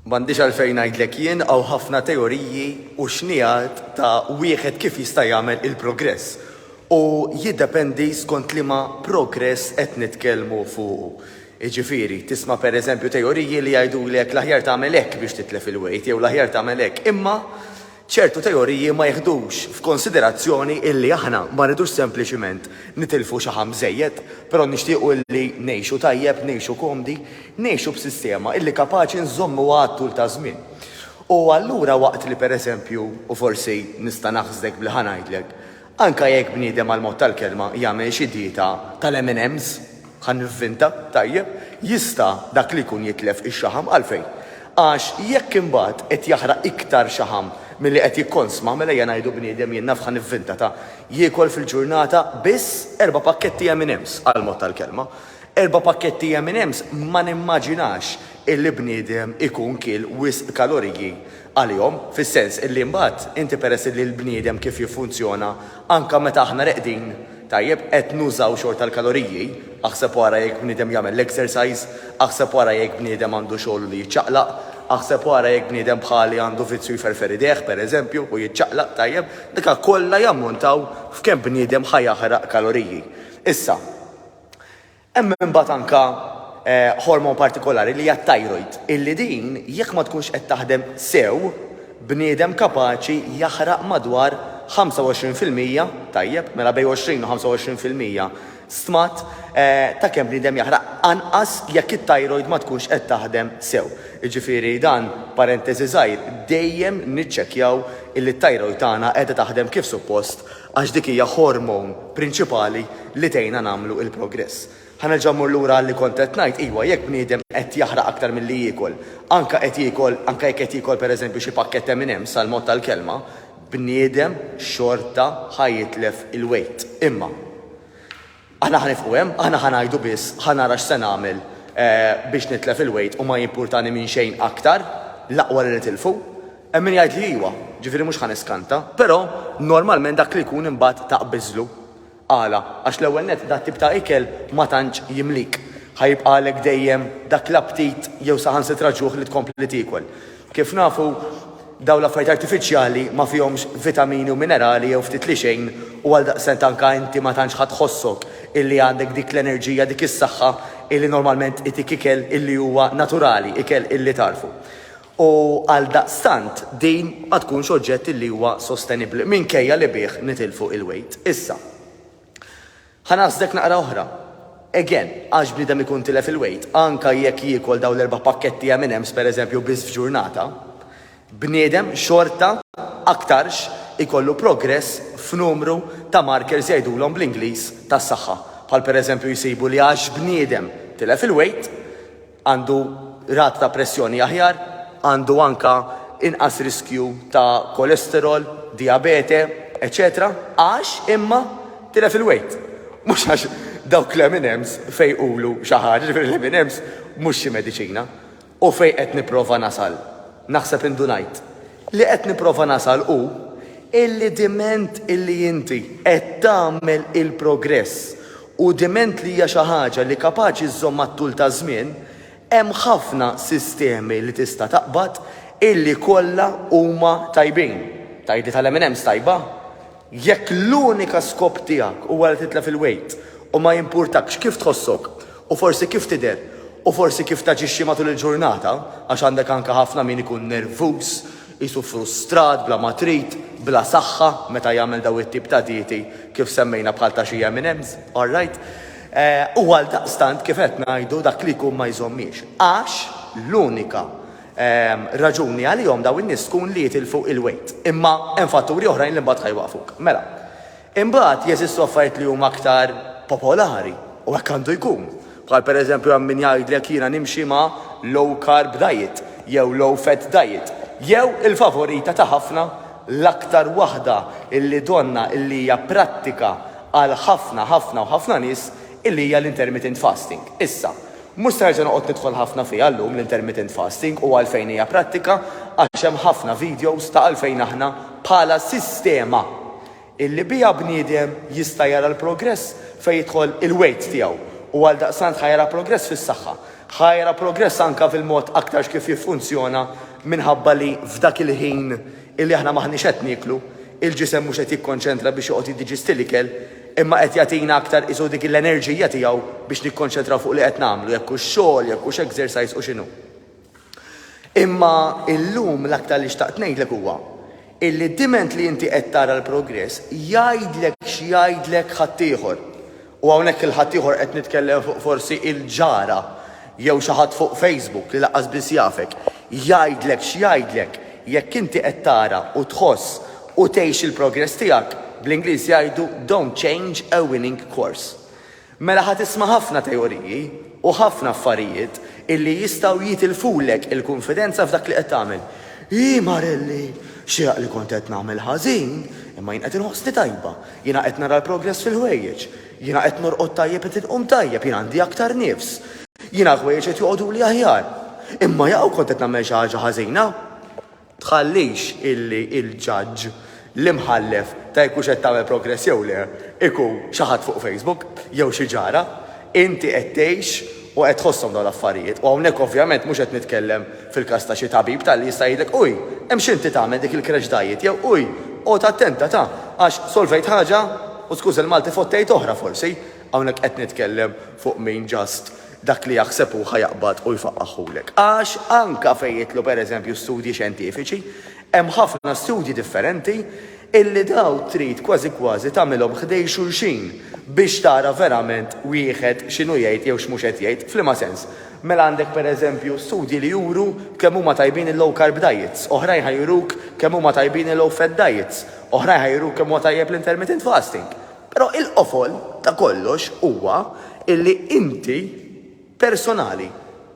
M'għandix għalfejn ngħidlek jien hawn ħafna teoriji u xnigħat ta' wieħed kif jista' jagħmel il-progress u jiddependi skont liema progress qed nitkellmu fuqu. Jiġifieri, tisma' per eżempju teoriji li jgħidulek l-aħjar tagħmel hekk biex titlef il-wejt jew l-aħjar tagħmel hekk imma Ċertu teoriji ma jiħdux f'konsiderazzjoni illi aħna ma rridux sempliċiment nitilfu xaħam żejjed, però nixtiequ illi ngħixu tajjeb, ngħixu komdi, ngħixu b'sistema illi kapaċi nżommuha għat-tul taż-żmien. U allura waqt li pereżempju, u forsi nista' naħsdek b'li ħa ngħidlek, Anke jekk bniedem għall-mod tal-kelma jagħmel xi dieta tal-M and M's, ħa nivvinta, tajjeb, jista' dak li jkun jitlef ix-xaħam. Għalfejn? Għax jekk imbagħad qed jaħraq iktar xaħam milli qed jikkonsma, mela ejja ngħidu bniedem, jien naf ħa nivvinta, ta, jiekol fil-ġurnata biss erba' pakketti M and M's, għall-mod tal-kelma. Erba' pakketti M and M's ma nimmaġinax illi bniedem ikun kiel wisq kaloriji għalihom, fis-sens illi imbagħad inti peress illi l-bniedem kif jiffunzjona anke meta aħna reqdin, tajjeb, qed nużaw xorta l-kaloriji, aħseb u ara jekk bniedem jagħmel l-exercise, aħseb u ara jekk bniedem għandu xogħlu li jiċċaqlaq, aħseb u ara jekk bniedem bħali għandu vizzju jferfer idejh, pereżempju, u jiċċaqlaq, tajjeb, daka kollha jammontaw f'kemm bniedem ħa jaħraq kaloriji. Issa, Hemm imbagħad anke ħormon partikolari li hija t-thyroid, illi din jekk ma tkunx qed taħdem sew, bniedem kapaċi jaħraq madwar 25 fil-mija, tajjeb, mela bejn 20 u 25 fil-mija, stmat ta' kemm bniedem jaħraq anqas jekk it-thyroid ma tkunx qed taħdem sew. Jiġifieri dan parenteżi żgħir, dejjem niċċekkjaw illi t-thyroid tagħna qiegħda taħdem kif suppost Għax dik hija hormone prinċipali li tgħinna nagħmlu il-progress. Ħa nerġa' mmur lura għal li kont qed ngħid, iwa jekk bniedem qed jaħraq aktar milli jiekol, anke qed jiekol, anke jekk qed jiekol per eżempju xi pakkett M&M's għal mod tal-kelma, bniedem xorta ħa jitlef il-weight. Imma. Aħna ħa nifqu hemm, aħna ħa ngħidu biss ħa nara x'se nagħmel biex nitlef il-weight u ma jimpurtani minn xejn aktar, l-aqwa li nitilfu. Hemm min jgħidli iwa, ġifieri mhux ħa niskanta, però normalment dak li jkun imbagħad taqbiżlu. Għala? Għax l-ewwel nett dat tip ta' ikel ma tantx jimlik. Ħa jibqagħlek dejjem dak l-aptit jew saħansitra ġuħ li tkompli tiekol. Kif nafu, dawn l-affarijiet artifiċjali ma fihomx vitamini u minerali jew ftit li xejn u għaldaqstant anke inti ma tantx ħa tħossok illi għandek dik l-enerġija, dik is-saħħa illi normalment itik ikel illi huwa naturali, ikel illi tagħrfu. U għaldaqstant din ma tkunx oġġett illi huwa sostenibbli minkejja li bih nitilfu il-wejt. Issa. Ħa ngħażżlek naqra oħra. Again, għax bniedem ikun tilef il-weight, anka jekk jiekol dawn l-erba' pakketti M&M's pereżempju biss f'ġurnata, bniedem xorta aktarx ikollu progress f'numru ta' markers jgħidulhom bl-Ingliż tas-saħħa, bħal pereżempju jsibu li għax bniedem tilef il-weight, għandu rata ta' pressjoni aħjar, għandu anke inqas riskju ta' kolesterol, dijabete, eċċetera Għax imma tilef il-wejt. Mhux għax dawk l-M and M's fejqulu xi ħaġa, jiġifieri l-M and M's mhux xi mediċina. U fejn qed nipprova nasal, naħseb indunajt. Li qed nipprova nasal hu illi diment illi inti qed tagħmel il-progress u diment li hija xi ħaġa li kapaċi żżomm mat-tul taż-żmien, hemm ħafna sistemi li tista' taqbad illi kollha huma tajbin. Tgħidli tal-M&M's tajba? Jekk l-unika skop tiegħek huwa li titlef il-wejt u ma jimpurtakx kif tħossok u forsi kif tidher u forsi kif taġixxi matul il-ġurnata, għax għandek anke ħafna min ikun nervuż, qisu frustrat, bla ma trid, bla saħħa meta jagħmel dawn it-tip ta' dieti kif semmejna bħal ta' xi M&M's, alright? U għaldaqstant kif qed ngħidu dak li jkun ma jżommiex. Għax l-unika raġuni għalihom dawn in-nies tkun li jitilfu il-weight. Imma hemm fatturi oħrajn li mbagħad ħa jwaqqfuk. Mela, imbagħad jeżistu affarijiet li huma aktar popolari, u hekk għandu jkun. Bħal pereżempju hemm min jgħidlek jiena nimxi ma' low carb diet jew low fat diet, jew il-favorita ta' ħafna, l-aktar waħda illi donna illi hija prattika għal ħafna ħafna u ħafna nies illi hija l-intermittent fasting. Issa, Mhux se nerġa' noqgħod nidħol ħafna fiha llum l-intermittent fasting u għalfejn hija prattika għax hemm ħafna videos ta' għalfejn aħna bħala sistema illi biha bniedem jista' jara l-progress fejn jidħol il-weight tiegħu u għaldaqstant ħa jara progress fis-saħħa, ħa jara progress anke fil-mod aktarx kif jiffunzjona minħabba li f'dak il-ħin illi aħna m'aħniex qed nieklu, il-ġisem mhux qed jikkonċentra biex joqgħod jiddiġisti l-ikel, imma qed jagħtina aktar qisu dik l-enerġija tiegħu biex nikkonċentraw fuq li qed nagħmlu, jekk hux xogħol, jekk hux exercise u x'inhu. Imma illum l-aktar li xtaqt ngħidlek huwa illi diment li inti qed tara l-progress jgħidlek x'jgħidlek ħaddieħor. U hawnhekk il-ħaddieħor qed nitkellem fuq forsi il-ġara jew xi ħadd fuq Facebook li lanqas biss jafek. Jgħidlek x'jgħidlek, jekk inti qed tara u tħoss u tgħix il-progress tiegħek, bl-Ingliż jgħidu don't change a winning course. Mela ħa tisma' ħafna teoriji u ħafna affarijiet illi jistgħu jitilfulek il-kunfidenza f'dak li qed tagħmel. Ii marelli! Xieraq li kont qed nagħmel ħażin, imma jien qed inħossni tajba. Jiena qed nara l-progress fil-ħwejjeġ. Jiena qed norqod tajjeb qed inqum tajjeb, jien għandi aktar nifs. Jiena l-ħwejjeġ qed joqogħduli aħjar. Imma jaqaw kont qed nagħmel xi ħaġa ħażina? Tħallix illi l-ġaġġ, l-imħallef ta' jekk hux qed tagħmel progress jew le, ikun xi ħadd fuq Facebook jew xi ġara. Inti qed tgħix u qed tħosshom dawn l-affarijiet, u hawnhekk ovvjament mhux qed nitkellem fil-każ ta' xi tabib ta' li jista' jgħidlek, uj, imxi inti tagħmel dik il-crash diet jew uj, qgħod attenta ta' għax solvejt ħaġa u skuża l-Malti fottejt oħra forsi, hawnhekk qed nitkellem fuq min just dak li jaħseb hu ħa jaqbad u jfaqagħhulek. Għax anke fejn jidħlu pereżempju studji xjentifiċi, Hemm ħafna studji differenti illi dawn trid kważi kważi tagħmilhom ħdejn xulxin biex tara verament wieħed x'inhu jgħid jew x'mhux qed jgħid. F'liema sens? Mela għandek per eżempju studji li juru kemm huma tajbin il-low carb diets, oħrajn ħa juruk kemm huma tajbin il-low fat diets, oħrajn ħa juruk kemm huwa tajjeb l-intermittent fasting. Però il-qofol ta' kollox huwa illi inti, Personali,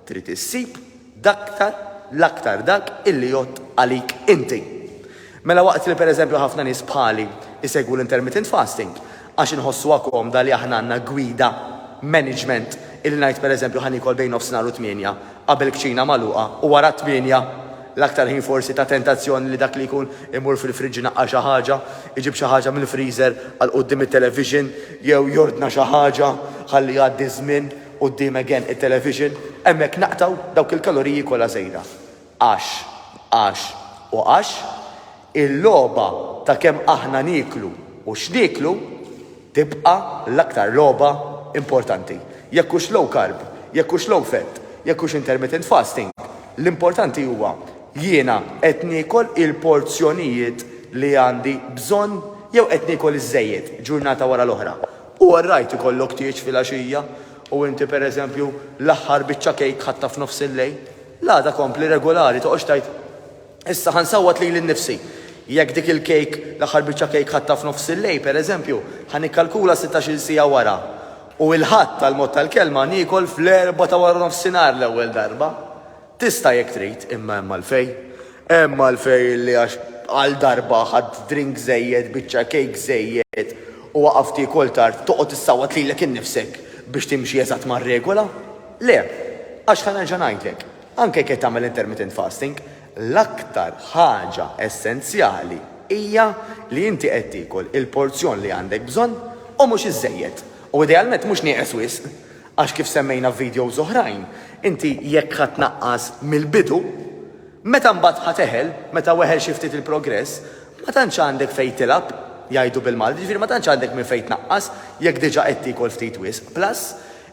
trid issib daktar l-aktar dak illi jgħodd għalik inti. Mela waqt li pereżempju ħafna nies bħali jsegwu l-intermittent fasting għax inħossuha komda li aħna għandna gwida, management, illi ngħid pereżempju ħa niekol bejn nofsinhar u tmienja qabel kċina magħluqa u wara t-tmienja, l-aktar ħin forsi ta' tentazzjoni li dak li jkun imur fil-fridge inaqqar xi ħaġa, iġib xi ħaġa mill-freezer għal quddiem it-television, jew jordna xi ħaġa ħalli jgħaddi ż-żmien quddiem again it-television, hemmhekk naqtgħu dawk il-kaloriji kollha żejda. Għax, għax, u għax, il-logħba ta' kemm aħna nieklu u x'nieklu tibqa' l-aktar logħba importanti. Jekk hux low carb, jekk hux low fat, jekk hux intermittent fasting, L-importanti huwa, jiena qed niekol il-porzjonijiet li għandi bżonn jew qed niekol iż-żejjed, ġurnata wara l-oħra. Hu orrajt ikollok tieġ filgħaxija u inti pereżempju l-aħħar biċċa kejk ħadtha f'nofs il-lejl. L-għada kompli regulari, toqgħodx tgħid, Issa ħa nsawwat lili nnifsi. Jekk dik il-kejk, l-aħħar biċċa kejk ħadtha f'nofs il-lejl pereżempju, ħa nikkalkula sittax-il siegħa wara U il-Ħadd, għall-mod tal-kelma, niekol fl-Erbgħa ta' waranofsinhar l-ewwel darba. Tista' jekk trid, imma hemm għalfejn. Hemm għalfejn li għax għal darba ħadt drink żejjed, biċċa kejk żejjed u waqaft tiekol tard, toqgħod issawwat lilek innifsek biex timxi eżatt mar-regola? Le. Għax ħa nerġa' ngħidlek, anke jekk qed tagħmel intermittent fasting, L-aktar ħaġa essenzjali hija li inti qed tiekol il-porzjon li għandek bżonn u mhux iżżejjed, u idealment mhux nieqes wisq, għax kif semmejna f'videos oħrajn, inti jekk ħa tnaqqas mill-bidu, meta mbagħad ħa teħel, meta weħel xi ftit il-progress, ma tantx għandek fejn tilgħab, jgħidu bil-Malti, jiġifieri ma tantx għandek minn fejn tnaqqas jekk diġà qed tiekol ftit wisq. Plus,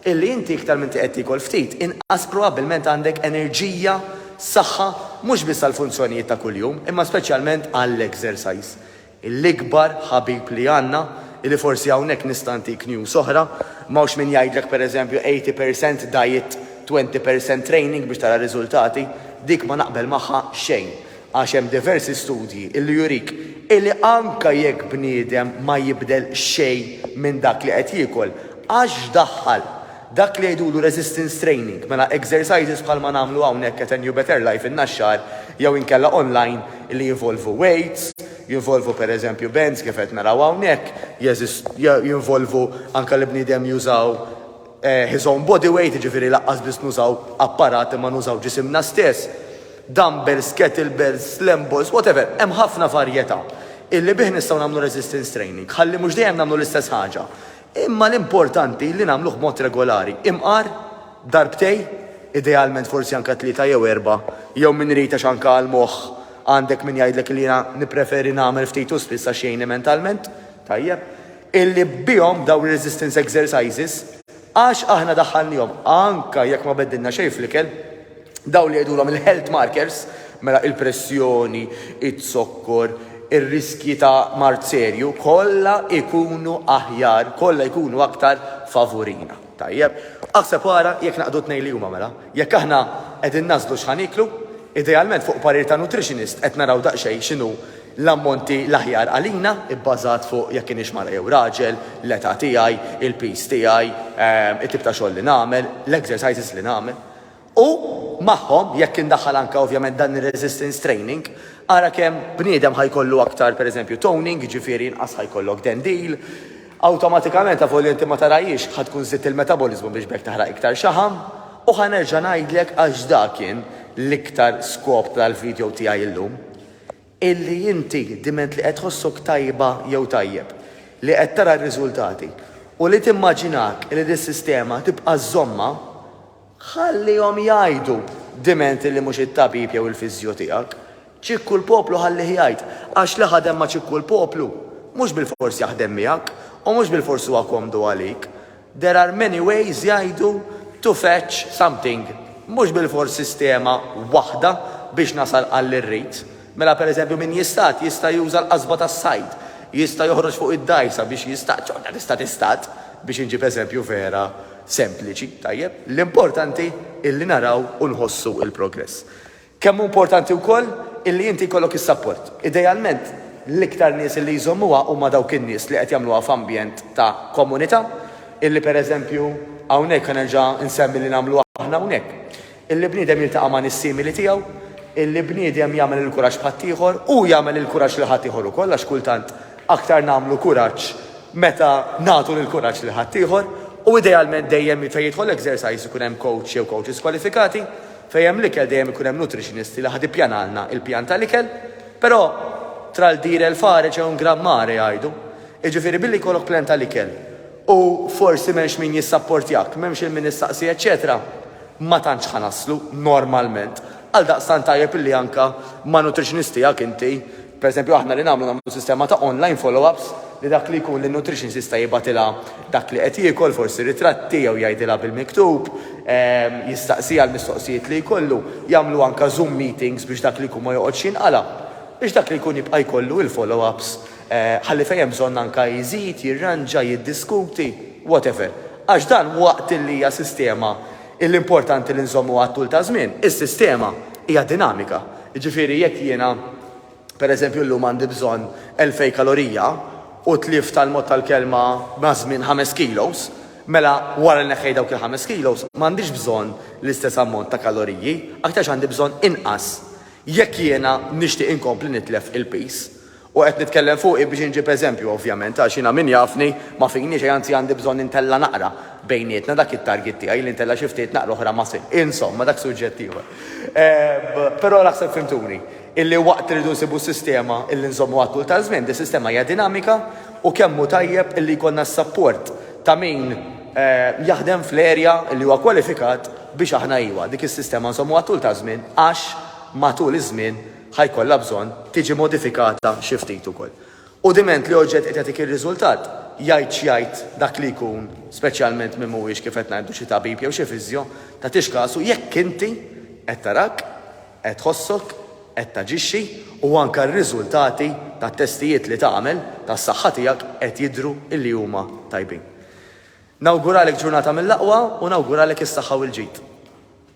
Illi inti iktar m'inti qed tiekol ftit, inqas probabbilment għandek enerġija, saħħa, mhux biss għall-funzjonijiet ta' kuljum, imma speċjalment għall-exercise. L-ikbar ħabib li għandna, illi forsi hawnhekk nista' ntik news oħra, m'hawnx min jgħidlek pereżempju eighty per cent diet, twenty per cent training biex tara riżultati, dik ma naqbel magħha xejn. Għax hemm diversi studji li jurik illi anke jekk bniedem ma jibdel xejn minn dak li qed jiekol, għax x'daħħal? Dak li jgħidulu resistance training, mela exercises bħalma nagħmlu hawnhekk at New Better Life in-Naxxar jew inkella online li jinvolvu weights, jinvolvu pereżempju bands kif qed naraw hawnhekk, jinvolvu anke li bniedem jużaw, his own body weight, jiġifieri laqqas biss nużaw apparat imma nużaw ġisimna stess, dumbbells, kettlebells, slam balls, whatever, hemm ħafna varjetà illi bih nistgħu nagħmlu resistance training ħalli mhux dejjem nagħmlu l-istess ħaġa imma l-importanti li nagħmluh b'mod regolari, imqar, darbtej, idealment forsi anke tlieta jew erbgħa, jew min irid għax anke għall-moħħ għandek min jgħidlek li jiena nippreferi nagħmel ftit u spiss għax jgħinni mentalment, tajjeb, illi bihom dawn ir-resistance exercises, għax aħna daħħalniehom anke jekk ma beddilna xejn fl-ikel, dawn li jgħidulhom il-health markers, mela il-pressjoni, iz-zokkor, ir-riskji ta' mard serju, kollha jkunu aħjar, kollha jkunu aktar favurina. Tajjeb, aħseb u ara jekk naqdu t-tnejn li huma mela. Jekk aħna qegħdin nagħżlu x'ħa nieklu, idealment fuq parir ta' nutritionist qed naraw daqsxejn x'inhu l-ammonti l-aħjar għalina, ibbażat fuq jekk inix mara jew raġel, l-età tiegħi, il-piż tiegħi, it-tip ta' xogħol li nagħmel, l-exercises li nagħmel. U, magħhom, jekk indaħħal anke ovvjament dan ir-resistance training, ara kemm bniedem ħa jkollu aktar, per eżempju, toning, jiġifieri inqas ħa jkollok dendil. Awtomatikament, avolja inti ma tarahiex, ħa tkun żidt il-metaboliżmu biex b'hekk taħraq iktar xaħam. U ħa nerġa' ngħidlek, għax dak kien l-iktar skop tal-video tiegħi illum, illi inti diment li qed tħossok tajba jew tajjeb, li qed tara r-riżultati u li timmaġinak li dis-sistema tibqa' żżommha, Ħallihom jgħidu, dimenti li mhux it-tabib jew il-fiżjo tiegħek. Ċikku l-poplu ħallih jgħid, għax li ħadem ma' ċikku l-poplu, mhux bilfors jaħdem miegħek, u mhux bilfors huwa komdu għalik. There are many ways jgħidu to fetch something, mhux bilfors sistema waħda biex nasal għall-irrid. Mela pereżempju min jistad jista' juża l-qasba tas-sajd, jista' joħroġ fuq id-dgħajsa biex jistad, xorta tista' tistad, biex inġib eżempju vera sempliċi, tajjeb? L-importanti illi naraw u nħossu il-progress. Kemm hu importanti wkoll illi inti jkollok is-sapport. Idealment l-iktar nies illi jżommuha huma dawk in-nies li qed jagħmluha f'ambjent ta' komunità, illi pereżempju hawnhekk ħa nerġa' nsemmi li nagħmlu aħna hawnhekk. Illi bniedem jiltaqa' ma' nies simili tiegħu, illi bniedem jagħmel il-kuraġġ b'ħaddieħor, hu jagħmel il-kuraġġ lil ħaddieħor ukoll għax kultant aktar nagħmlu kuraġġ meta nagħtu l-kuraġġ lil ħaddieħor u idealment dejjem fejn jidħol exercise ikun hemm coach jew coaches kwalifikati, fejn hemm l-ikel dejjem ikun hemm nutritionist li ħad ippjanalna il-pjan tal-ikel, però tra l dire e l fare c'è un gran mare jgħidu, jiġifieri billi jkollok plan tal-ikel u forsi m'hemmx min jissapportjak, m'hemmx il-min issaqsi eċċetera, ma tantx ħa naslu, normalment. Għaldaqstant tajjeb illi anke ma' nutritionist tiegħek inti, pereżempju aħna li nagħmlu nagħmlu sistema ta' online follow-ups li dak li jkun lin-nutritionist jista' jibgħatilha dak li qed jiekol, forsi ritratti jew jgħidilha bil-miktub, jistaqsiha l-mistoqsijiet li jkollu, jagħmlu anke zoom meetings biex dak li jkun ma joqgħodx jinqala', biex dak li jkun jibqa' jkollu il-follow-ups. ħalli fejn hemm bżonn anke jżid, jirranġa, jiddiskuti, whatever. Għax dan waqt li hija sistema li importanti li nżommuha għat-tul ta' żmien, is-sistema hija dinamika. Jiġifieri jekk jiena, pereżempju, llum għandi bżonn elfejn kalorija u tlift għal mod tal-kelma maż-żmien ħames kilos, mela wara li neħħejt dawk il-ħames kilos m'għandix bżonn l-istess ammont ta' kaloriji, aktarx għandi bżonn inqas jekk jiena nixtieq inkompli nitlef il-piż. U qed nitkellem fuqi biex inġib eżempju, ovvjament, għax jiena min jafni ma fini xejn, anzi għandi bżonn intella' naqra bejnietna, dak it-target tiegħi li ntella' xi ftit naqra oħra ma sir. Insomma, dak suġġett ieħor. Però naħseb fhimtuni, illi waqt li rridu nsibu sistema illi nżommuha t-tul taż-żmien, dis-sistema hija dinamika u kemm hu tajjeb illi jkollna s-sapport ta' min jaħdem fl-area illi huwa kwalifikat biex aħna, iva, dik is-sistema nżommuha t-tul taż-żmien għax matul iż-żmien ħa jkollha bżonn tiġi modifikata xi ftit ukoll. U diment li oġġett qed jagħtik ir-riżultat, jgħid x'jgħid dak li jkun, speċjalment min mhuwiex kif qed ngħidu xi tabib jew xi fisjo, tagħtix kasu jekk inti qed tarak, qed tħossok, qed taġixxi u anke r-riżultati tat-testijiet li tagħmel tas-saħħa tiegħek qed jidhru li huma tajbin. Nawguralek ġurnata mill-aqwa u nawguralek is-saħħa u l-ġid.